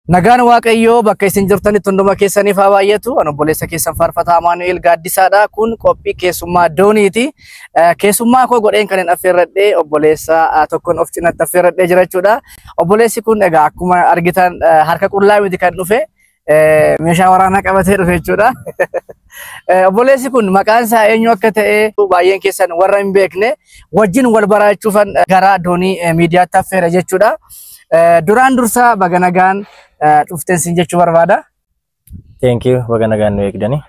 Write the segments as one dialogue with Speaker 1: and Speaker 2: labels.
Speaker 1: Nagaan Waaqayyoo bakka isin jirtanitti hunduma keessaniif haa baay'atu. Ani obboleessa keessan faarfataa Amaanu'eel Gaaddisaadha. Kun qophii keessummaa dooniiti. Eh, Keessummaa koo godheen kan hin affeerradhe obboleessa ah, tokkoon of cinatti affeerradhee jira jechuudha. Obboleessi kun egaa akkuma argitan eh, harka qullaa miti kan dhufe. Eh, Meeshaa waraanaa qabatee dhufe jechuudha. Eh, Obboleessi kun maqaan isaa eenyu akka ta'e baay'een keessan warra hin beekne wajjin wal baraachuufan eh, gara doonii eh, miidiyaatti affeera jechuudha. Eh, Duraan dursaa baga nagaan eh, dhufteen siin jechuu barbaada. Thank
Speaker 2: you baga nagaan nu eegdanii.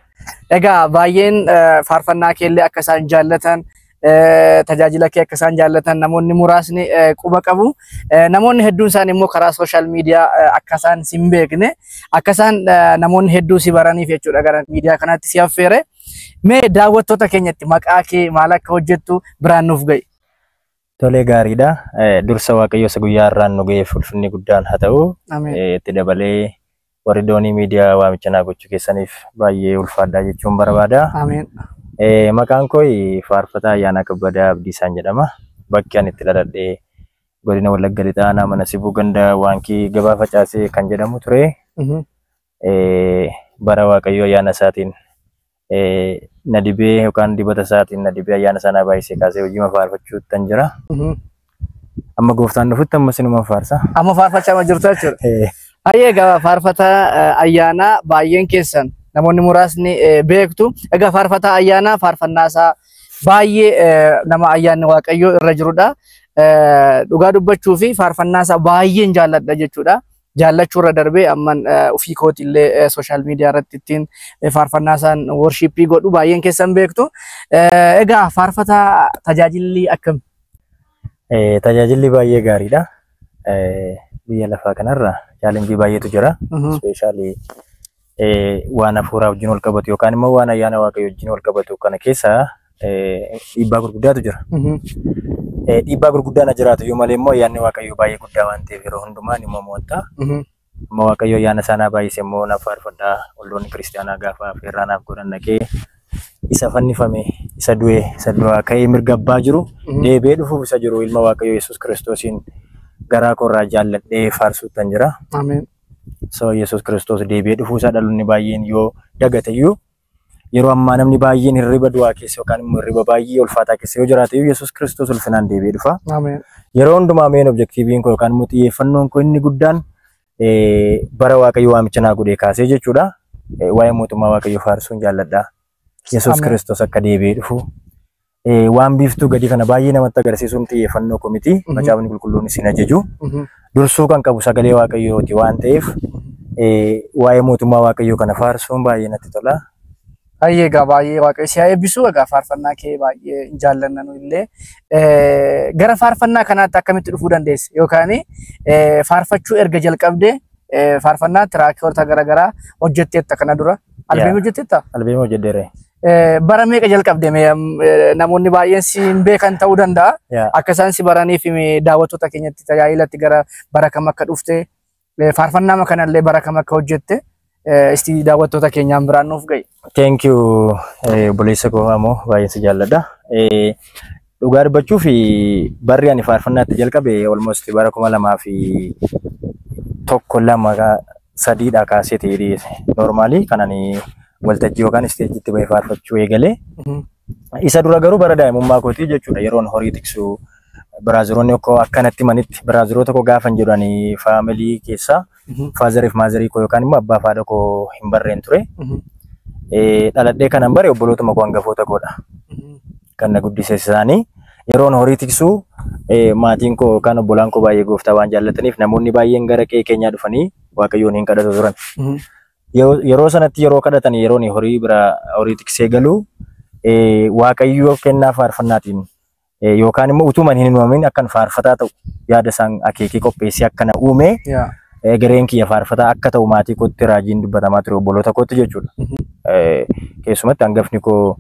Speaker 2: Egaa
Speaker 1: baay'een eh, faarfannaa keellee akka isaan jaallatan tajaajila kee akka isaan jaallatan namoonni muraasni quba qabu. Namoonni hedduun isaanii immoo karaa sooshaal miidiyaa akka isaan si hin beekne akka isaan namoonni hedduu si baraniif jechuudha gara miidiyaa kanaatti si affeere. Mee daawwattoota keenyatti maqaa kee maal akka hojjettu biraan nuuf ga'i. Tolee
Speaker 2: gaariidha. Dursa Waaqayyo isa guyyaa har'aan nu ga'eef ulfinni guddaan haa ta'u. Itti dabalee Warri doonii miidiyaa waamicha naa gochuu keessaniif baay'ee ulfaadhaa jechuun barbaada. Ameen. Eh, Maqaan koo Faarfataa Ayyaanaa Kabbadaa Abdiisaan jedhama. Bakki ani itti dhaladhe godina Wallagga Lixaa aanaa mana Sibuu ganda Waankii gabaa facaasee kan jedhamu ture. Mhm. Eh, bara Waaqayyo ayyaana isaatiin na dibee yookaan dibata isaatiin na dibee ayyaana isaa na baay'isee kaasee hojii ma faarfachuuttan jira. Amma gooftaan dhufutti amma sinuman faarsa. Amma faarfachaa ma jirtu
Speaker 1: jechuudha. Eh, Hayyee egaa faarfataa eh, ayyaanaa baay'een keessan namoonni muraasni eh, beektu. Egaa faarfataa ayyaanaa faarfannaa isaa baay'ee eh, nama ayyaanni waaqayyoo irra jirudha. Eh, Dhugaa dubbachuu fi faarfannaa isaa baay'een jaalladha jechuudha. jaallachuu irra darbee amman ofii kooti illee sooshaal miidiyaa irratti ittiin faarfannaa isaan worshiippii godhu baay'een keessan beektu. Egaa faarfataa tajaajilli akkam? Eh,
Speaker 2: Tajaajilli baay'ee gaariidha. Eh, Biyya lafaa kanarra chaalenjii baay'eetu jira. Ispeeshaalii waan hafuuraa wajjin wal qabatu yookaan immoo waan ayyaana waaqayyoo wajjin wal qabatu kana keessa dhiibbaa gurguddaatu jira. Dhiibbaa gurguddaa na jiraatu yoo malee immoo ayyaanni waaqayyoo baay'ee guddaa waan ta'eef yeroo hundumaa ni mo'amo'atta. Amma waaqayyo ayyaana isaa naa baay'ise immoo naaf faarfadha. Olloonni kiristaanaa gaafa affeerraa naaf godhan dhaqee isa fannifame, isa du'e, isa du'aa ka'ee mirga abbaa jiru deebi'ee dhufuuf isa jiru ilma waaqayyoo Yesuus kiristoosiin garaa koorraa jaalladhee faarsuuttan jira. Ameen. sababa Yesuus Kiristoos deebi'ee dhufuusaa dhaloonni baay'een yoo dagateyyuu yeroo ammaa namni baay'een hirriba du'aa keessa yookaan immoo hirriba baay'ee ulfaataa keessa yoo jiraateyyuu Yesuus Kiristoos ulfinaan deebi'ee dhufa. Ameen. Yeroo hundumaa meen objektiiviin koo yookaan immoo xiyyeeffannoon koo inni guddaan eh, bara Waaqayyo waamicha naa godhee kaasee jechuudha. Eh, Waa'ee mootummaa Waaqayyo faarsuun jaalladha. Yesuus Ameen. Kiristoos akka deebi'ee dhufu Eh, Waan biiftuu gadii kana baay'ee namatti agarsiisuun xiyyeeffannoo koo miti. Mhm. Macaafni qulqulluun isin ajaju. Mhm. Dursuu kan qabu sagalee waaqayyooti waan ta'eef eh, waa'ee mootummaa waaqayyoo kana faarsuun baay'ee natti tola. Baay'ee egaa
Speaker 1: baay'ee waaqayyo si haa eebbisu egaa faarfannaa kee baay'ee hin jaallanna nu illee Eh, gara faarfannaa kanaatti akkamitti dhufuu dandeesse yookaan eh, faarfachuu erga jalqabde eh, faarfannaa tiraakiyoota garaagaraa hojjetteetta kana dura albeemii Yeah. hojjetteetta Albeemii hojjedheera.
Speaker 2: Eh, Bara meeqa
Speaker 1: jalqabde mee am, eh, namoonni baay'een si hin beekan ta'uu danda'a. Yeah. Akka isaan si baraniif mee daawwattoota keenyatti tajaajilatti gara bara kam akka dhufte eh, faarfannaama kanallee bara kam akka hojjette eh, isti daawwattoota keenyaan biraan nuuf ga'i. Thank you
Speaker 2: eh, obboleessa koo ammoo baay'een si jaalladha. Eh, Dhugaa dubbachuuf barri ani faarfannaa itti jalqabe almost bara kuma lamaa fi tokko lama sadiidha kaasee ta'e noormaalii kan ani waltajjii yookaan isteejiitti bahee faarfachuu eegale. Isa dura garuu bara daa'imummaa kootii jechuudha yeroon horii tiksu biraaziroonni koo akkanatti manitti biraaziroota koo gaafan jedhu ani faamilii keessaa faazariif maazarii koo yookaan immoo abbaa faadha koo hin barreen ture. Dhaladhee kanan bare obbolootuma koo hangafoota koodha. kan na guddises isaanii. Yeroon horii tiksuu eh, maatiin koo yookaan obbolaan koo baay'ee gooftaa waan jaallataniif namoonni baay'een gara qe'ee keenyaa dhufanii waaqayyoon hin kadhatu turan. Mhm. Yeroo- Yeroo sanatti yeroo kadhatan yeroon horii bira horii tiksee galu eh, waaqayyoo kennaa faarfannaatiin eh, yookaan immoo utuman hin uumamin akkan faarfataa ta'u yaada isaan akeekee qopheessee akka na uume Yaa. eh, gareen kiyya faarfataa akka ta'u maatii kootti raajiin dubbatamaa ture obboloota kootti jechuudha. Mhm. Eh, Keessumatti hangafni koo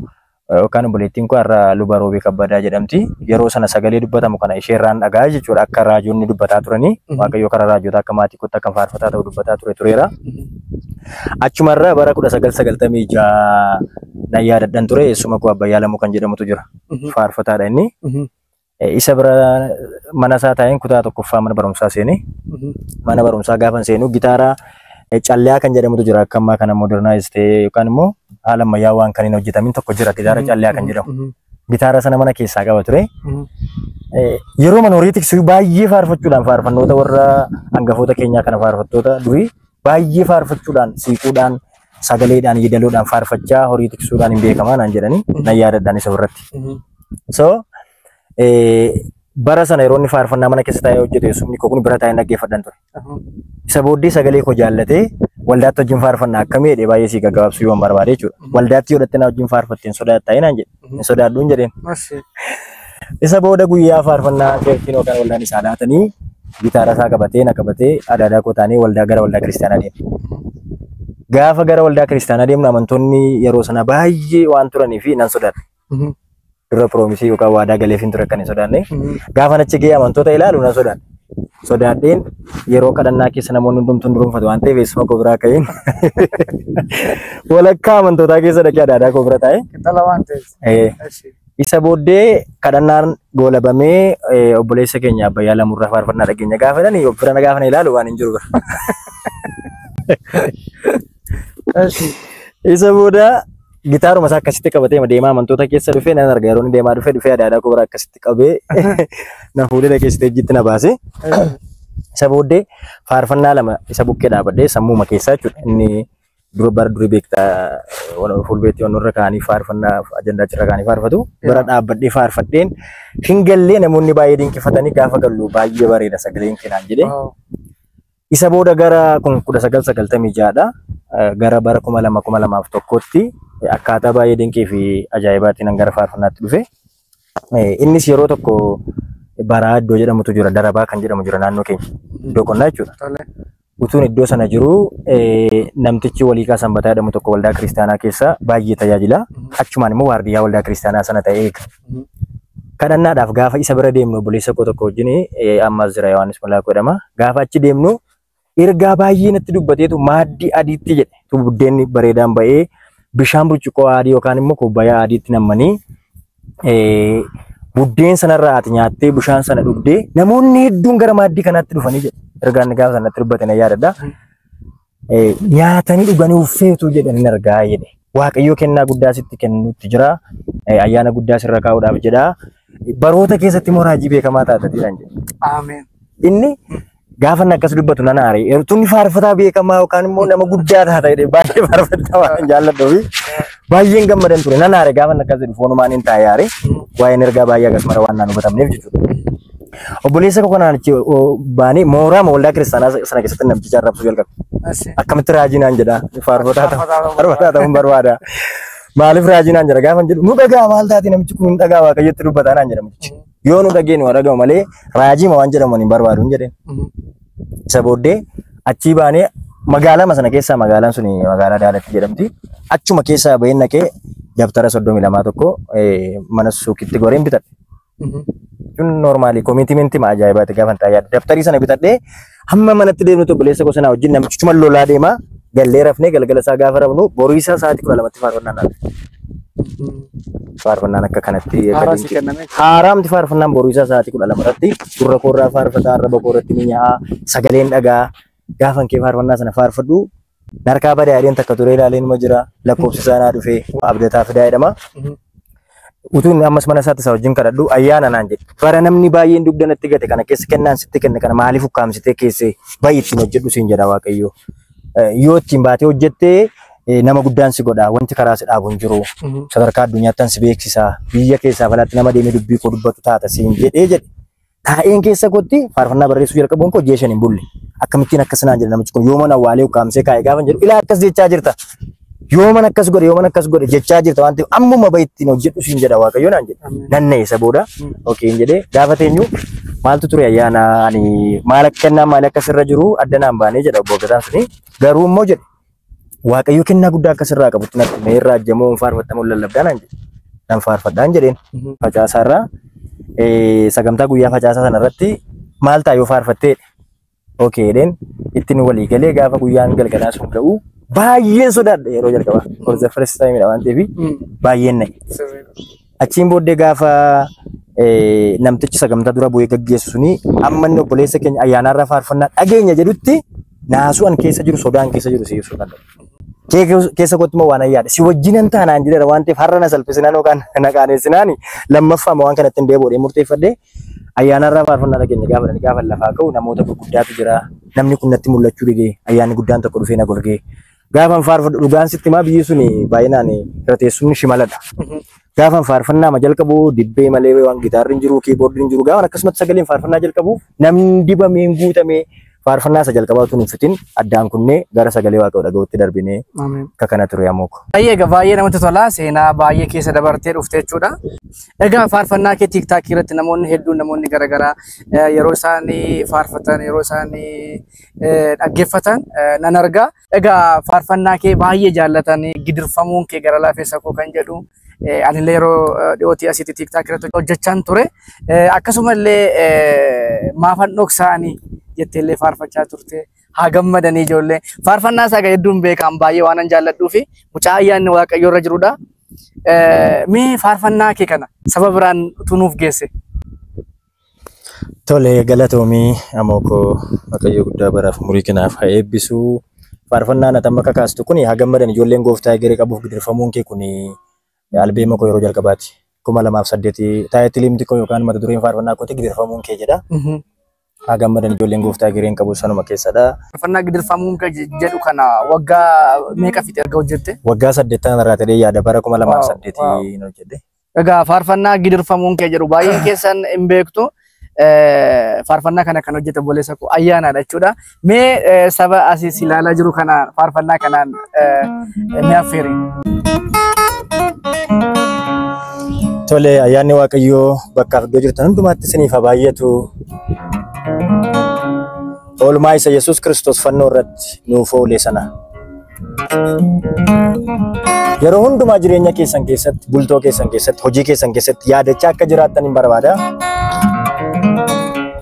Speaker 2: yookaan obboleettiin koo har'a luba roobee kabbadaa jedhamti. Yeroo sana sagalee dubbatamu kana ishee irraan dhagaa jechuudha akka raajonni dubbataa turanii waaqayyo karaa raajota akka maatii kootti akka faarfataa ta'u dubbataa ture tureera. Achumarra bara 1996 nan yaadadhan ture eessuma koo Abbayyaa Lamuu kan jedhamutu jira. Faarfataadha inni. Eh, Isa bira mana isaa taa'een kutaa tokkoffaa mana barumsaa seenee mana barumsaa gaafa seenu gitaara eh, calliyaa kan jedhamutu jira akka ammaa kana modernize ta'ee yookaan immoo haala ammayyaa waan kan hin hojjetamin tokko jira gitaara calliyaa kan jedhamu gitaara sana mana keessaa qaba ture Eh, yeroo mana horii tiksuu baay'ee faarfachuudhaan faarfannoota warra hangafoota keenyaa kana faarfattoota durii baay'ee faarfachuudhaan siiquudhaan sagaleedhaan yeedaloodhaan faarfachaa horii tiksuudhaan hin beekamaa naan jedhanii nan yaadadhaan isa irratti. So eh, bara sana yeroo inni faarfannaa mana keessa taa'ee hojjetu eessumni koo kun bira taa'ee dhaggeeffadhan ture. Isa booddee sagalee koo jaallatee waldaatti wajjin faarfannaa akkamii jedhee baay'ee sii gaggabaabsuu yoon barbaade jechuudha. Waldaatti yoo dhatte naa wajjin faarfatte hin sodaattaa naan jedhe. hin sodaadhuun jedheen. Mashii. Isa booda guyyaa faarfannaa keertiin yookaan waldaan isaa laatanii gitaara isaa qabatee na qabatee adaadaa koo taanee waldaa gara waldaa kiristaanaa deemne. Gaafa gara waldaa kiristaanaa deemnu amantoonni yeroo sana baay'ee waan turanii fi nan sodaadhe. Mhm. Dura piroomisii yookaan waadaa galeef hin ture kan hin sodaanne. Mhm. Gaafa achi ga'ee amantoota ilaalu nan sodaadhe. sodaadheen yeroo kadhannaa keessa namoonni hundumtuu hin durumfatu waan ta'eef eessuma koo biraa ka'een walakkaa amantootaa keessa dhaqee adaadaa koo bira taa'e. Qixxala waan ta'eef.
Speaker 1: Eh, Eshi. Isa booddee
Speaker 2: kadhannaan goolabamee eh, obboleessa keenya Abbayyaa Lamurraa faarfannaa dhageenya gaafa jedhani of bira na gaafa na ilaalu waan hin jiru bira. Eshi. Isa booda Gitaaruma isaa akkasitti qabatee ma deemaa amantoota keessa dhufee nan arga yeroo inni deemaa dhufee dhufee adaadaa koo bira akkasitti qabee na fuudhee dhaqee isteejjiitti na baase. Isa booddee faarfannaa lama isa bukkee dhaabadhee sammuuma keessaa jechuudha. Inni dura bara durii beektaa wan- fuulbeetti waan irra kaanii faarfannaa ajandaa irra kaanii faarfatu bara dhaabbadhee faarfadheen hin gallee namoonni baay'ee dinqifatanii gaafa gallu baay'ee bareeda sagaleen kenaan jedhee Isa booda gara 1996 dha. Gara bara 2000 2001tti akkaataa baay'ee dinqii fi ajaa'ibaatiin an gara faarfannaatti dhufe. Innis yeroo tokko baraa iddoo jedhamutu jira, darabaa kan jedhamu jira naannoo keenya. Iddoo qonnaa jechuudha. Tole. Utuun iddoo sana jiru namtichi waliiqaa sanbataa jedhamu tokko waldaa kiristaanaa keessa baay'ee tajaajila. Achumaan immoo waardiyyaa waldaa kiristaanaa sana ta'ee eega. kadhannaadhaaf gaafa isa bira deemnu obboleessa koo tokko wajjin eh, ammas jira Yohaannis Malaakoo jedhama. Gaafa achi deemnu ergaa baay'ee natti dubbateetu maaddii adiitti jedhe. Tu buddeenni bareedaan ba'ee bishaan burcuqqoo adii yookaan immoo kubbayaa adiitti nammanii eh, buddeen sanarraa ati nyaattee bishaan sana dhugdee namoonni hedduun gara maaddii kanaatti dhufanii jedhe. Ergaan inni gaafa sanatti dubbate na yaadadha. Eh, nyaatanii dhuganii uffeetu jedhan hin argaa jedhe. Waaqayyoo kennaa guddaa sitti kennuutti jira. Eh, Ayyaana guddaa sirra kaa'uudhaaf jedha. Baroota keessatti immoo raajii beekamaa taatatiidhaan jedhe. Ameen.
Speaker 1: Inni
Speaker 2: gaafa inni akkas dubbatu nan aare. Eertuun faarfataa beekamaa yookaan immoo nama guddaa taata jedhee baay'ee faarfataa waan jaalladhuufi baay'een gammadan ture. Nan aare gaafa inni akkas jedhu foonumaan hin taa'e aare. Waa'een ergaa baay'ee akkasumara waan naan hubatamneef jechuudha. Obboleessa koo kanaan achi baanee mooraa waldaa kiristaanaa sana keessatti namticha arrabsuu jalqabe. Akkamitti raajii naan jedha faarfataa ta'u faarfataa ta'uun barbaada. Maaliif raajii naan jedha gaafa jedhu nu dhagaa maal taate namichi kun nu dhagaa waaqayyotti dubbataa naan jedha mucichi. Yoo nu dhagee nu dhaga'u malee raajii ma waan jedhamu hin barbaadu jedhe. Isa booddee achii baanee magaalaa sana keessaa magaalaan sun magaalaa Daalatti jedhamti. Achuma keessaa baheen naqee dabtara soddomii lamaa tokko mana suuqitti goreen bitadhe. Kun normaalii komiitimentii ma ajaa'ibaati gaafa hin taayyaa. Daftarii sana bitadhee hamma manatti deemnu tokko leessa gosa naa wajjin namichi chuma lolaa deema. Gallee rafnee galgala isaa gaafa rafnu boruu isaa sa'aatii kudha lamatti faarfannaan dhaabne. Faarfannaan akka kanatti akka Haaraa si dinqii- kenname. haaraamti faarfannaan boruu isaa sa'aatii kudha lama irratti gurra koorraa faarfataa arraba koorratti ni nya'a sagaleen dhagaa Gaafan kee faarfannaa sana faarfadhu na harkaa bada yaadeen takka turee ilaalee numa jira lakkoofsi isaa naa dhufee abdataa fidaa jedhama. Utuu inni ammas mana isaatti isaa wajjin kadhadhu ayyaana naan jedhe. Bara namni baay'een dugda natti gate kana keessa kennaan sitti kenne kana maaliif ukkaamsitee keessee baay'ee ittiin hojjedhu siin jedha Waaqayyo. Eh, Yoo ittiin baatee hojjettee eh, nama guddaan si godha wanti karaa si dhaabu hin jiru. Sadarkaa addunyaattan si beeksisa biyya keessaa falaatti nama deemee dubbii koo dubbatu taata siin jedhee jedhe. Taa'een keessa kootti faarfannaa barreessuu jalqabuun koo ji'a shan hin bulle. Akkamittiin akkas naan jedha namichi kun yooman awwaalee ukkaamsee kaa'e gaafa hin jedhu ilaa akkas jechaa jirta. Yooman akkas godhe yooman akkas godhe jechaa jirta waan ta'eef ammuma bahi ittiin hojjedhu siin jedha waaqayyo naan jedhe. Nan na'e isa booda okee hin jedhee gaafa teenyu maaltu ture ayyaana ani maal akka kennaa maal akka sirra jiru adda naan baanee jedha obbo Gataan suni garuu immoo jedhe Waaqayyo kennaa guddaa akka sirraa qabutti natti hime irraa ajjamoo hin faarfattamoo lallabdaa naan jedhe. Nan faarfadhaan jedheen. Facaasaa irraa eh, sagantaa guyyaa facaasaa sana irratti maal ta'a yoo faarfattee Okee jedheen ittiin walii galee gaafa guyyaan galgalaa sun ga'u baay'een sodaadha yeroo jalqabaa. For the first time dha waan ta'eef baay'een na'e. Sirriidha. Achiin booddee gaafa eh, namtichi sagantaa dura bu'ee gaggeessu suni amma inni obboleessa keenya ayyaanaarraa faarfannaa dhageenya jedhutti naasuu an keessa jiru sodaan keessa jiru si ibsuu kan danda'u. Kee keessa- keessa kootti immoo waan ayyaadha. Si wajjinan taanaan jedhera waan ta'eef har'a na salphisinaan yookaan na qaaneessinaani lammaffaa immoo waan kanatti hin deebi'uudhee murteeffadhee ayyaanaarraa faarfannaa dhageenya gaafa dhani gaafa lafaa ka'u namoota gurguddaatu jira. Namni kun natti mul'achuu didee ayyaanni guddaan tokko dhufee na golgee Gaafan faarfadhu dhugaan sitti himaa biyyi sun baay'inaan irra teessumni shimaladha. Gaafan faarfannaa ma jalqabu dibbee malee waan gitaarri hin jiru kiiboordi hin jiru gaafan akkasumatti sagaleen faarfannaa jalqabu namni dibamee hin guutamee faarfannaa isa jalqabaa tun hin fitin addaan kunnee gara sagalee waaqayyoo dhaga'utti darbinee Ameen. akka kana ture amooko. Baay'ee egaa baay'ee namatti tola
Speaker 1: seenaa baay'ee keessa dabartee dhufte jechuudha. Egaa faarfannaa kee tiiktaakii irratti namoonni hedduun namoonni garaagaraa eh, yeroo isaan faarfatan yeroo isaan dhaggeeffatan nan argaa. Egaa faarfannaa kee baay'ee jaallatanii gidirfamuun kee gara laafessa koo kan jedhu anillee yeroo dhiyootii asitti tiiktaak irratti hojjechaan ture. Akkasumallee maafan dhoksaanii jetteellee faarfachaa turte. Haa gammadanii ijoollee. Faarfannaa isaa hedduun beekaan baay'ee waanan jaalladhuu fi mucaa ayyaanni waaqayyoo irra jirudha. Mee faarfannaa kee kana saba biraan utuu nuuf geesse.
Speaker 2: Tole galatoomii amoo koo Waaqayyo guddaa baraaf umurii kanaaf haa eebbisu. Faarfannaan ati amma kakaastu kun haa gammadan ijoolleen gooftaa egeree qabuuf gidirfamuun kee kun albeema koo yeroo jalqabaati. kuma lamaaf saddeeti taayitiliimti koo yookaan mata dureen faarfannaa kooti gidirfamuun kee jedha. Haa gammadan ijoolleen gooftaa egereen qabu sanuma keessadha. Faarfannaa gidirfamuun
Speaker 1: kee jedhu kana waggaa meeqa fixe erga hojjette? Waggaa saddeettan irraa
Speaker 2: ta'ee yaada bara kuma lamaaf saddeeti hojjedhe. Egaa faarfannaa
Speaker 1: gidirfamuun kee jedhu baay'een keessan hin beektu. Eh, Faarfannaa kana kan hojjete obboleessa koo ayyaanaadha jechuudha. Mee eh, saba asiis ilaalaa jiru kana faarfannaa kanaan eh, ni affeeri.
Speaker 2: Tole ayyaanni Waaqayyoo bakkaaf iddoo jirtan hundumaatti isiniif haa baay'atu. Oolmaa isa Yesuus Kiristoos fannoo irratti nuuf oole sana Yeroo hundumaa jireenya keessan keessatti, bultoo keessan keessatti, hojii keessan keessatti yaadachaa akka jiraattan hin barbaada.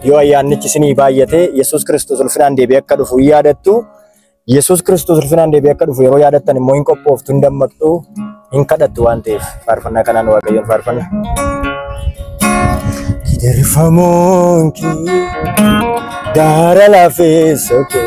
Speaker 2: Yoo ayyaannichi isinii baay'ate, Yesuus Kiristoos ulfinaan deebi'ee akka dhufu hin yaadattu. Yesuus Kiristoos ulfinaan deebi'ee akka dhufu yeroo yaadattan immoo hin qophooftu, hin dammaqxu, hin kadhattu waan ta'eef faarfannaa kanaan Waaqayyoon faarfanna. Gidirfamoon kee gaara lafeessa kee.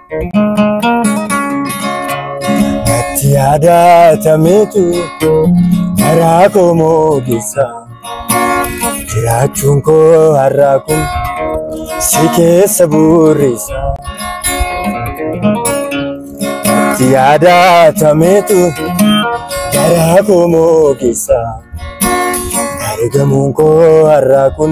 Speaker 2: Natti yaadatameetu garaa koo moogessa. Jiraachuun koo har'aa kun si keessa burrisa. Natti yaadatameetu garaa koo moogessa. Argamuun koo har'aa kun.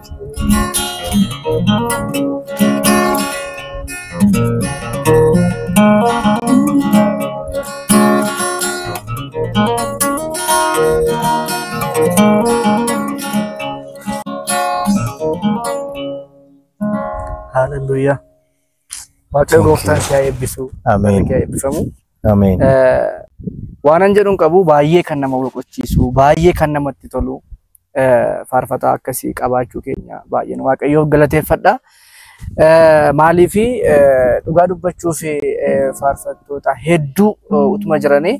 Speaker 1: Haaleluyyaa. Waaqayyo gooftaan si haa eebbisu. Ameen. Barri kee haa eebbifamu. Ameen. Eh, Waanan jedhuun qabu baay'ee kan nama boqochiisu, baay'ee kan namatti tolu, faarfataa akkasii qabaachuu keenya baay'een waaqayyoof galateeffadha. Maaliif dhugaa dubbachuuf faarfattoota hedduu utuma jiranii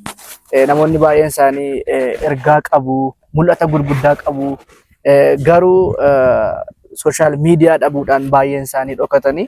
Speaker 1: namoonni baay'een isaanii ergaa qabu, mul'ata gurguddaa qabu. Garuu sooshaal miidiyaa dhabuudhaan baay'een isaanii dhokatanii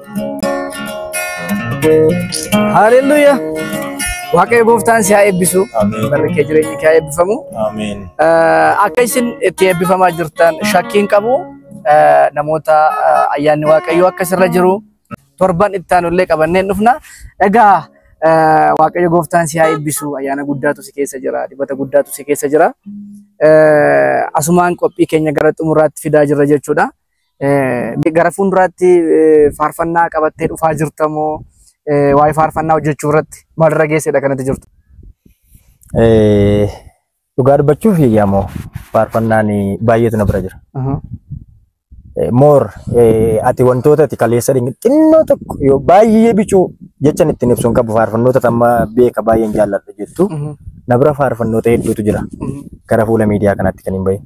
Speaker 1: Haaleluyyaa. Waaqayyo gooftaan si haa eebbisu. Ameen. Barri kee jireenyi
Speaker 2: kee haa
Speaker 1: eebbifamu. Ameen.
Speaker 2: Eh, Akka
Speaker 1: isin itti eebbifamaa jirtan shakkiin qabu eh, namoota eh, ayyaanni waaqayyoo akka sirra jiru torban itti aanullee qabanneen dhufna. Egaa eh, waaqayyo gooftaan si haa eebbisu ayyaana guddaatu si keessa jira dibata guddaatu si keessa jira. Eh, Asumaan qophii keenya gara xumuraatti fidaa jirra jechuudha. Eh, Gara fuulduraatti eh, faarfannaa qabattee dhufaa jirta moo eh, waa'ee faarfannaa hojjechuu irratti maalirra geessedha kanatti jirtu? Eh,
Speaker 2: Dhugaa dubbachuuf yaamoo faarfannaan baay'eetu na bira jira. Eh, Moor eh, ati wantoota ati kaleessa dhigni xinnoo tokko yoo baay'ee bicuu jechan ittiin ibsuun qabu faarfannoota tamma beeka baay'een jaalladha jettu na bira faarfannoota hedduutu jira gara fuula miidiyaa kanatti kan hin bahin.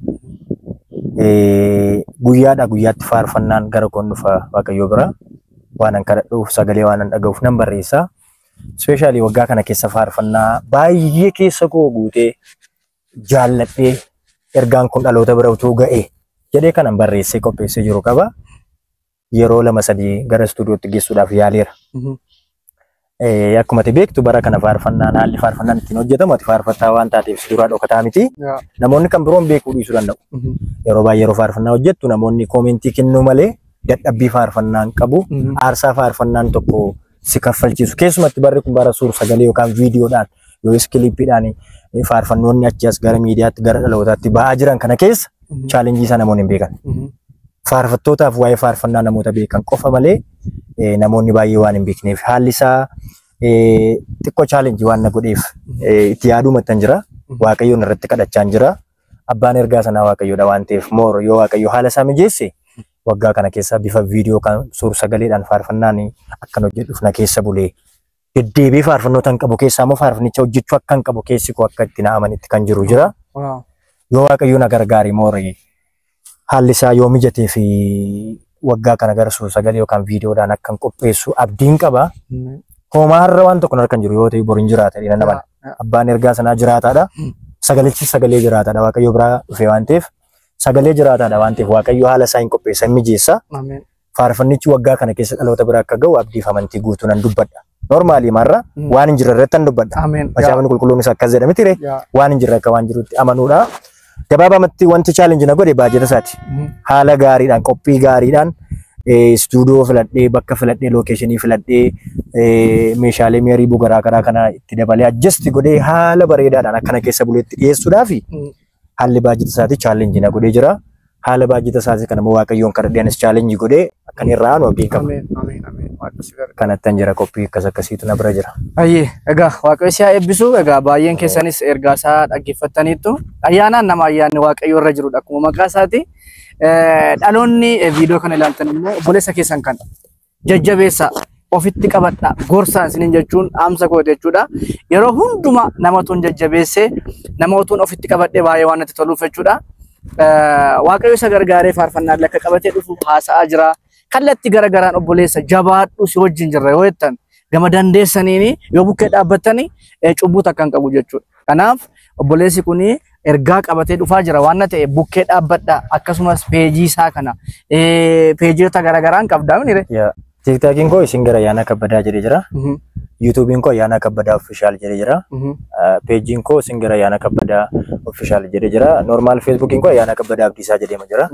Speaker 2: guyyaadhaa guyyaatti faarfannaan gara koon dhufa Waaqayyoo bira waanan kadhadhuuf sagalee waanan dhaga'uuf nan barreessa. Ispeeshaalii waggaa kana keessa faarfannaa baay'ee keessa koo guutee jaalladhee ergaan kun dhaloota bira utuu ga'e jedhee kanan barreessee qopheessee jiru qaba. yeroo lama sadii gara istuudiyootti geessuudhaaf yaaleera. Mhm. Eh, Akkuma ati beektu bara kana faarfannaan haalli faarfannaan ittiin hojjetamu ati faarfattaa waan taateef si duraa dhokataa miti. Yaa. Namoonni kan biroon beekuu dhiisuu danda'u. Mhm. Yeroo baay'ee yeroo faarfannaa hojjettu namoonni koomentii kennuu malee dadhabbii faarfannaan qabu. Mhm. Aarsaa faarfannaan tokko si kaffalchiisu. Keessumatti barri kun bara suur sagalee yookaan viidiyoodhaan yookiis kiliippiidhaan faarfannoonni achi as gara miidiyaatti gara dhalootaatti ba'aa jiran kana keessa chaalenjii isaa namoonni hin beekan. Faarfattootaaf waa'ee faarfannaa namoota beekan qofa malee eh, namoonni baay'ee waan hin beekneef haalli isaa eh, xiqqoo chaalenjii waan na godheef eh, itti yaaduu mattan jira. Waaqayyoon irratti kadhachaan jira. Abbaan ergaa sanaa Waaqayyoodha waan ta'eef moor yoo Waaqayyo haala isaa mijeesse waggaa kana keessa bifa viidiyoo kan suur sagaleedhaan faarfannaan akkan hojjedhuuf na keessa bulee deddeebi'ee faarfannoota hin qabu keessaa immoo faarfannicha hojjechuu akka hin qabu keessi koo akka itti na amanitti kan jiru jira. Waaw. Yoo waaqayyo na gargaare moorii haalli isaa yoo mijatee fi waggaa kana gara suur sagalee yookaan viidiyoodhaan akka hin qopheessu abdiin qaba. Mm. Hoomaa har'a waan tokko narkan jiru yoo ta'e boriin jiraata jedhee nama Yeah. abbaan ergaa sanaa jiraataadha. Sagalichi sagalee jiraataadha waaqayyo biraa dhufee waan ta'eef sagalee jiraataadha waan ta'eef waaqayyo haala isaa hin qopheessa hin mijeessa. Ameen. faarfannichi waggaa kana keessa dhaloota bira akka ga'u abdiif amantii guutuu nan dubbadha. Normaalii marra Mm. waan hin jirre irratti nan dubbadha. Ameen. Macaafni qulqulluunis akkas jedha miti ree? Yaa. Waan hin jirre akka waan jirutti amanuudha. Gabaabamatti wanti challenge na godhe baajata isaati. Mm. Haala gaariidhaan, qophii gaariidhaan eh, istuudiyoo filadhee, bakka filadhee, lookeeshinii filadhee, eh, meeshaalee mi'arii bugaraa karaa kana itti dabalee adjust godhee haala bareedaadhaan akkana keessa buleetti dhiyeessuudhaa fi Mm. haalli baajjata isaatii challenge na godhee jira. Haala baajjata isaatii kana immoo Waaqayyoon kadhadhee anis challenge godhee akkan irraa aanu abdiin qaba. Ameen. Ameen. Ameen. Waaqayyo si gargaara. Kanattan jira qophii akkas akkasiitu na bira jira. Ayyee, egaa
Speaker 1: waaqayyo si haa eebbisu. Egaa baay'een keessanis ergaa isaa dhaggeeffattaniittu. Ayyaanaan nama ayyaanni waaqayyo irra jirudha akkuma maqaa isaati. Eh, Dhaloonni eh, viidiyoo kana ilaaltan immoo obboleessa keessan kan jajjabeessaa, ofitti qabadhaa, gorsaa isiniin jechuun dhaamsa kooti jechuudha. Yeroo hundumaa nama otuun jajjabeessee, nama otuun ofitti qabadhee baay'ee waan natti toluuf jechuudha. Eh, Waaqayyo isa gargaaree faarfannaallee akka qabatee dhufu haasa'aa jira. Kallatti gara garaan obboleessa jabaadhu si wajjin jirra yoo jettan gama dandeessaniin yoo bukkee dhaabbattanii eh, cubbuu takka hin qabu jechuudha. Kanaaf obboleessi kun ergaa qabatee dhufaa jira waan na ta'e bukkee dhaabbadha akkasumas peejii isaa kana eh, peejiota garaagaraan qabdaa minire. Yaa. Tiktaakiin koo
Speaker 2: isin gara Ayyaanaa Kabbadaa jedhee jira. Yuutuubiin koo Ayyaanaa Kabbadaa Ofishaal jedhee jira. Ah, Peejiin koo isin gara Ayyaanaa Kabbadaa Ofishaal jedhee jira. Normaal Feesbuukiin koo Ayyaanaa Kabbadaa Abdiisaa jedhee jira.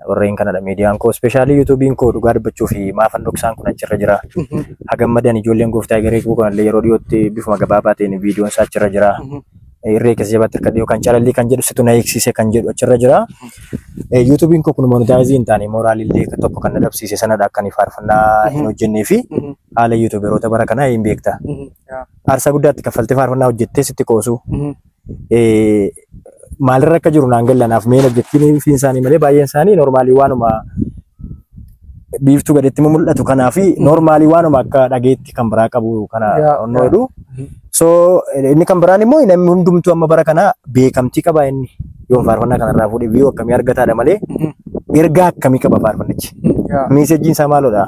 Speaker 2: Warreen kanadha miidiyaan koo. Ispeeshaalii yuutuubiin koo dhugaa dubbachuu fi maafan dhoksaan kun achirra jira. Hagammadan ijoolleen gooftaa egeree koo kanallee yeroo dhiyootti bifuma gabaabaa ta'een viidiyoon isaa achirra jira. Irree keessa jabaatti akka dhiyoo kan calallii kan jedhu situ na eegsiise kan jedhu achirra jira. Yuutuubiin koo kun monitaayizii hin taane mooraalillee tokko kan na dhabsiise sanadha akka ani faarfannaa hin hojjennee fi haala yuutuuberoota bara kanaa hin beekta. Aarsaa guddaatti kaffaltee faarfannaa hojjettee sitti qoosu. maalirra akka jiru naan gallanaaf meen objektiinii fi isaanii malee baay'een isaanii noormaalii waanuma biiftuu gaditti mul'atu kanaa fi noormaalii waanuma akka dhageetti kan biraa qabu kana Yaa, onnoo yaa. jedhu. So inni kan biraan immoo namni hundumtuu amma bara kana beekamtii qaba inni yoon faarfannaa kanarraa fuudhee biyya akkamii argataadha malee ergaa akkamii qaba faarfannichi. Yaa. Miisejjiin isaa maalodha?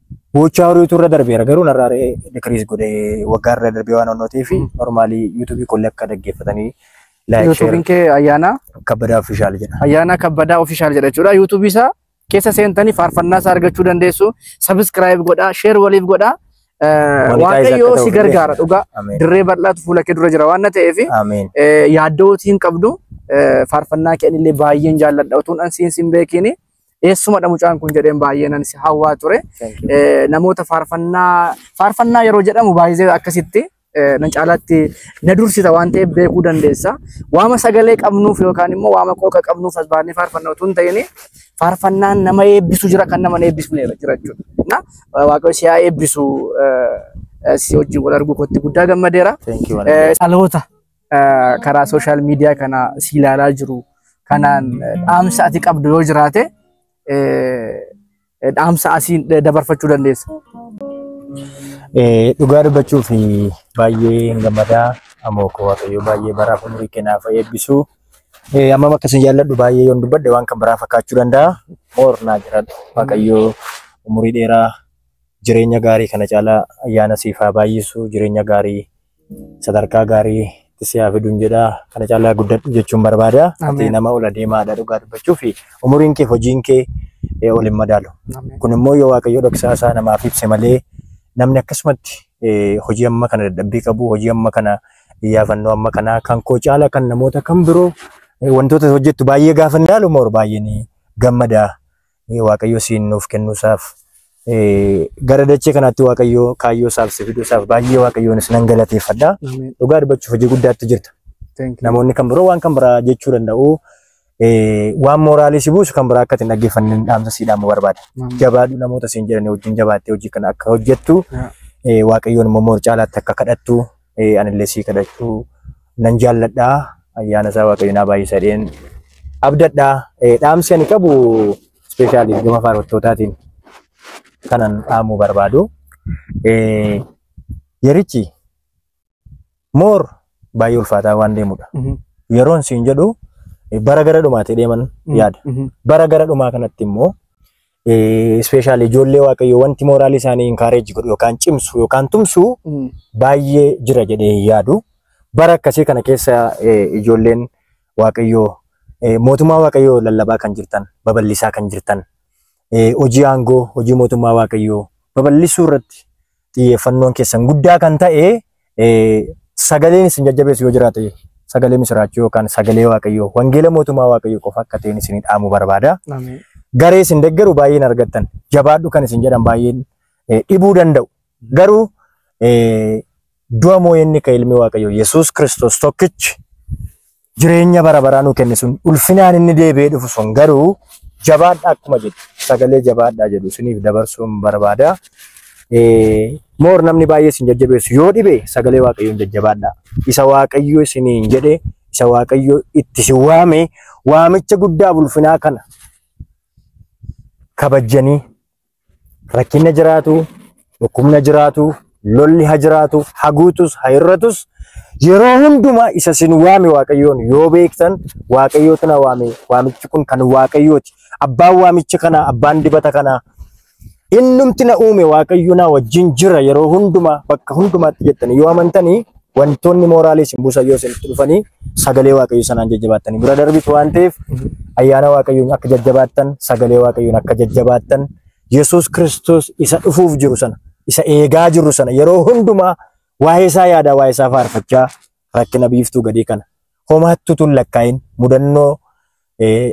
Speaker 2: Gochaa horiitu irra darbeera garuu narraa decrease godhe waggaa irra darbee waan onnootii fi normaalii yuutuubii kollee akka dhaggeeffatanii like share Yuutuubiin
Speaker 1: kee ayyaanaa kabbadaa ofishaal
Speaker 2: jedha. ayyaanaa kabbadaa ofishaal
Speaker 1: jedha jechuudha. Yuutuubii isaa keessa seentanii faarfannaa isaa argachuu dandeessu. Sabiskiraayib godhaa, sheer waliif godhaa. Eh, Monetize Waaqayyoo akka si ta'u gargaara illee. dhugaa. Ameen. Dirree bal'aatu fuula kee dura jira waan na ta'eef Ameen. yaaddootii hin qabdu. Eh, Faarfannaa kee anillee baay'een jaalladha utuun an siin siin beekiini. eessumadha mucaan kun jedheen baay'ee nan si hawwaa ture. Thank you. Eh, Namoota faarfannaa faarfannaa yeroo jedhamu baay'ee akkasitti eh, nan caalaatti na dursita waan ta'eef beekuu dandeessa. Waama sagalee qabnuuf yookaan immoo waama qooqa qabnuuf as baannee faarfannaa utuu hin ta'in faarfannaan nama eebbisu jira kan nama hin eebbisne jira jechuudha. Na waaqayyo si haa eebbisu eh, eh, si wajjin wal arguu kootti guddaa gammadeera. Thank you. Eh, Dhaloota karaa sooshaal miidiyaa kana si ilaalaa jiru kanaan dhaamsa ati qabdu yoo jiraate dhaamsa asiin dabarfachuu dandeessa.
Speaker 2: Dhugaa dubbachuuf baay'ee hin gammadaa amoo koo waaqayyo baay'ee baraaf umurii kennaaf eebbisu. Ammam akka isin jaalladhu baay'ee yoon dubbadhe waan kan biraa fakkaachuu danda'a. Moor naa jiraadhu waaqayyo umurii dheeraa jireenya gaarii kana caalaa ayyaana siif haa baay'isu jireenya gaarii sadarkaa gaarii itti si haa fiduun jedha. Kana caalaa guddadhu jechuun barbaada. Ati Ameen. nama ol adeemaadha dhugaa dubbachuu fi umuriin kee hojiin kee eh, ol hin madaalu. Ameen. Kun immoo yoo waaqayyo dhoksaa isaa namaaf ibse malee namni akkasumatti eh, hojii amma kana dadhabbii qabu, hojii amma kana iyyaafannoo amma kana kan koo caala kan namoota kan biroo eh, wantoota hojjettu baay'ee gaafa hin ilaalu moor baay'een gammada. Waaqayyo siin nuuf kennuusaaf gara dachee kanaatti Waaqayyo kaayyoo isaaf si fiduusaaf baay'ee Waaqayyoonis nan galateeffadha. Dhugaa dubbachuuf hojii guddaatti jirta. Namoonni kan biroo waan kan biraa jechuu danda'u. Waan mooraalii si buusu kan biraa akka ittiin dhaggeeffanne dhaamsa si dhaamu barbaada. Jabaadhu namoota siin jedhanii wajjin jabaattee hojii kana akka hojjettu Waaqayyoon immoo moor caalaatti akka kadhattu eh, anillee sii kadhachuu nan jaalladha ayyaana isaa waaqayyo naa baay'isa dheen abdadha Eh, dhaamsi ani qabu ispeeshaalii gama faarfattootaatiin kanan dhaamuu barbaadu Eh, yerichi moor baay'ee ulfaataa waan deemudha Mhm. yeroon siin jedhu eh, bara gara dhumaatee deeman yaada Mhm. bara gara dhumaa kanatti immoo Ispeeshaalii ijoollee waaqayyoo wanti mooraalii isaanii inkaareeji godhu yookaan cimsu yookaan tumsu Mm. baay'ee jira jedhee hin yaadu. Bara akkasii kana keessa eh, ijoolleen waaqayyoo eh, mootummaa waaqayyoo lallabaa kan jirtan, babal'isaa kan jirtan, eh, hojii aangoo, hojii mootummaa waaqayyoo babal'isuu irratti xiyyeeffannoon keessan guddaa kan ta'e sagaleen isin jajjabeessu yoo jiraate sagalee misiraachuu yookaan sagalee waaqayyoo wangeela mootummaa waaqayyoo qofa akka ta'een isin dhaamu barbaada. Garee isin deggeru baay'een argattan jabaadhu kan isin jedhan baay'een dhibuu danda'u. Garuu du'a moo'ee inni ka'e ilmi waaqayyoo Yesuus Kiristoos tokkichi jireenya bara baraa nu kenne sun ulfinaan inni deebi'ee dhufu sun garuu jabaadha akkuma jedhu sagalee jabaadhaa jedhu isiniif dabarsuun barbaada. Eh, Moor namni baay'ee isin jajjabeessu yoo dhibe sagalee waaqayyoon jajjabaadha. Isa waaqayyo isiniin jedhe isa waaqayyo itti si waame waamicha guddaa ulfinaa kana kabajjanii rakkinna jiraatu, dhukkubna jiraatu, lolli ha jiraatu, ha guutus, ha hir'atus yeroo hundumaa isa sin waame Waaqayyoon yoo beektan Waaqayyootu na waame waamichi kun kan Waaqayyooti. Abbaan waamicha kanaa, abbaan dibata kanaa innumti na uume Waaqayyo na wajjin jira yeroo hundumaa bakka hundumaatti jettanii yoo amantanii Wantoonni mooraalii isin buusan yoo isinitti dhufanii sagalee waaqayyoo sanaan jajjabaattanii bira darbitu waan ta'eef ayyaana waaqayyoon akka jajjabaattan sagalee waaqayyoon akka jajjabaattan Yesuus Kiristoos isa dhufuuf jiru sana isa eegaa jirru sana yeroo hundumaa waa'ee isaa yaadaa waa'ee isaa faarfachaa rakkina biiftuu gadii kana homaatti utuu hin lakkaa'in mudannoo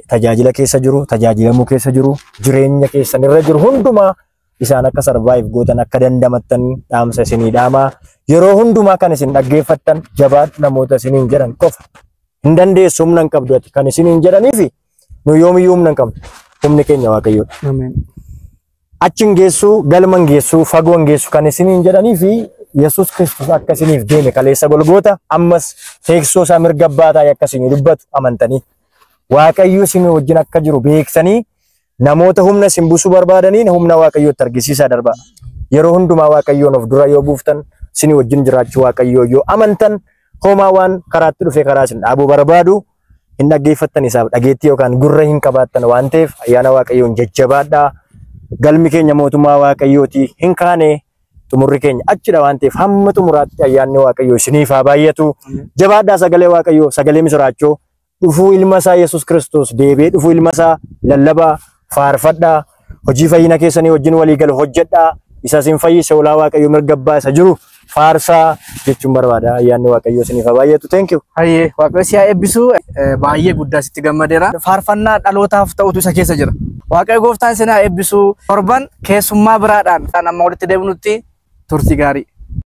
Speaker 2: tajaajila keessa jiru, tajaajilamuu keessa jiru, jireenya keessan irra jiru hundumaa isaan akka sarvaayiv gootan akka dandamattan dhaamsa isinii dhaamaa. Yeroo hundumaa kan isin dhaggeeffattan jabaadhu namoota isiniin jedhan qofa. Hin dandeessu humna hin qabdu ati kan isiniin jedhaniifi Nu yoomiyyuu humna hin qabnu. Humni keenya Waaqayyoodha. Ameen.
Speaker 1: Achi
Speaker 2: hin geessu, galma hin geessu, fagoo hin geessu kan isiniin jedhanii fi Yesuus Kiristoos akka isiniif deeme kaleessa golgoota ammas teessoo isaa mirga abbaa taa'ee akka isinii dubbatu amantanii Waaqayyo isin wajjin akka jiru beeksanii namoota humna isin buusuu barbaadaniin humna Waaqayyootti argisiisaa darbaa. Yeroo hundumaa Waaqayyoon of dura yoo buuftan isin wajjin jiraachuu Waaqayyoo yoo amantan homaa waan karaatti dhufe karaa isin dhaabuu barbaadu hin dhaggeeffattan isaaf dhageettii yookaan gurra hin qabaattan waan ta'eef ayyaana waaqayyoon jajjabaadhaa galmi keenya mootummaa waaqayyooti hin kaane xumurri keenya achidha waan ta'eef hamma xumuraatti ayyaanni waaqayyoo isiniif haa baay'atu jabaadhaa sagalee waaqayyoo sagalee misiraachoo dhufuu ilma isaa yesus kiristoos deebi'ee dhufuu ilma isaa lallabaa faarfadhaa, hojii fayyina keessanii wajjin walii galu hojjedhaa, isa isin fayyise ulaa Waaqayyo mirga abbaa isa jiru faarsaa jechuun barbaada. Ayyaanni Waaqayyo isiniif haa baay'atu. Thank you. Hayyee waaqayyo si haa
Speaker 1: eebbisu Eh, baay'ee guddaa sitti gammadeera. Faarfannaa dhalootaaf ta'utu isa keessa jira. Waaqayyo gooftaan isin haa eebbisu. Torban keessummaa biraadhaan kan amma walitti deebinutti turtii gaarii.